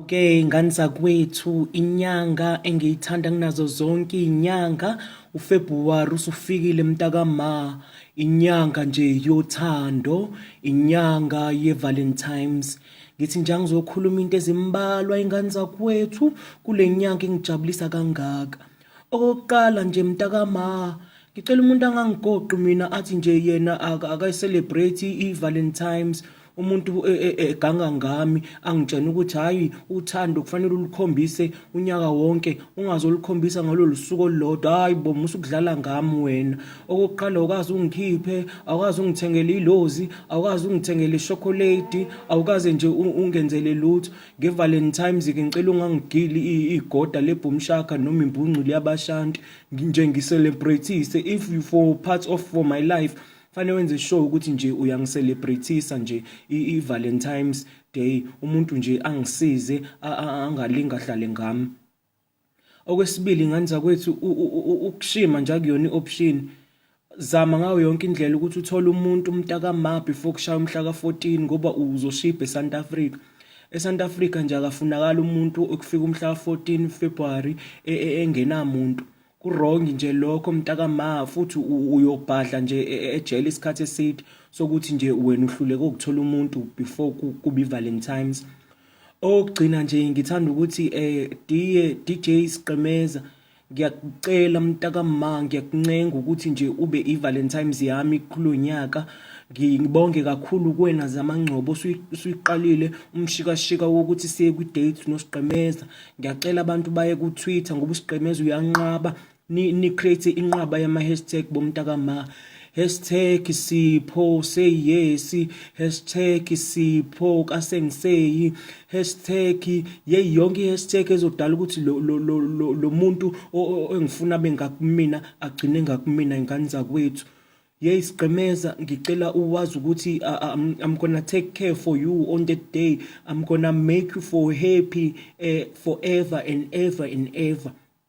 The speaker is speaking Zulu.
Okay ngani zakwethu inyanga engiyithanda kunazo zonke inyanga uFebruary usufikile mntaka ma inyanga nje yothando inyanga yeValentines ngithi nje ngizokhuluma into ezimbalwa ingane zakwethu kulenyanga engijabulisa kangaka Okokuqala nje mntakama ngicela umuntu angangigoqi mina athi nje yena akayicelebrate i-valentines umuntu e, e, e, eganga ngami angitshena ukuthi hhayi uthando kufanele ulukhombise unyaka wonke ungazolukhombisa ngalolu suku olulodwa hhayi bo musa ukudlala ngami wena okokuqala awukazi ungikhiphe awukazi ungithengele ilozi awukazi ungithengele ishokoledi awukaze nje ungenzele lutho ngevalentimes-ke ngicela ungangigili igoda lebhumshaka noma imbungcu liyabashanti nje ngiselebrethise if you for part of for my life fanele wenze sure ukuthi nje uyangiselebrethisa nje i-valentimes day umuntu nje angisize angalinga hlale ngami Okwesibili ngani zakwethu ukushima nje akuyona i-option. Zama ngayo yonke indlela ukuthi uthole umuntu umntaka ma before kushaya umhla ka-14 ngoba uzoshibha eSouth Africa. ESouth Africa nje akafunakala umuntu okufika umhla ka-14 February e, e, engenamuntu. Kurong nje lokho mntaka ma futhi uyobhadla nje e, ejele isikhathi eside sokuthi nje wena uhluleke ukuthola umuntu before kubi Valentines. Okugcina nje ngithanda ukuthi eh DJ DJ Siqemeza ngiyakucela mntakamma ngiyakuncenga ukuthi nje ube iValentine's yami kulonyaka ngibonge kakhulu kuwena zamangcobo usuyiqalile umshikashika wokuthi siye kwi-date nosiqemeza ngiyacela abantu baye ku-twitter ngoba usiqemeza uyanqaba ni, ni create inqwaba yama hashtag bomntaka ma hashtag sipho say yes hashtag sipho kasengiseyi hashtag yeyi yonke i-hashtag ezodala ukuthi lo, lo, lo, lo, lo muntu engifuna abe ngakumina agcine ngakumina ingane zakwethu yeyi sigqemeza ngicela uwazi ukuthi I'm, I'm gonna take care for you on that day I'm gonna make you for happy uh, forever and ever and ever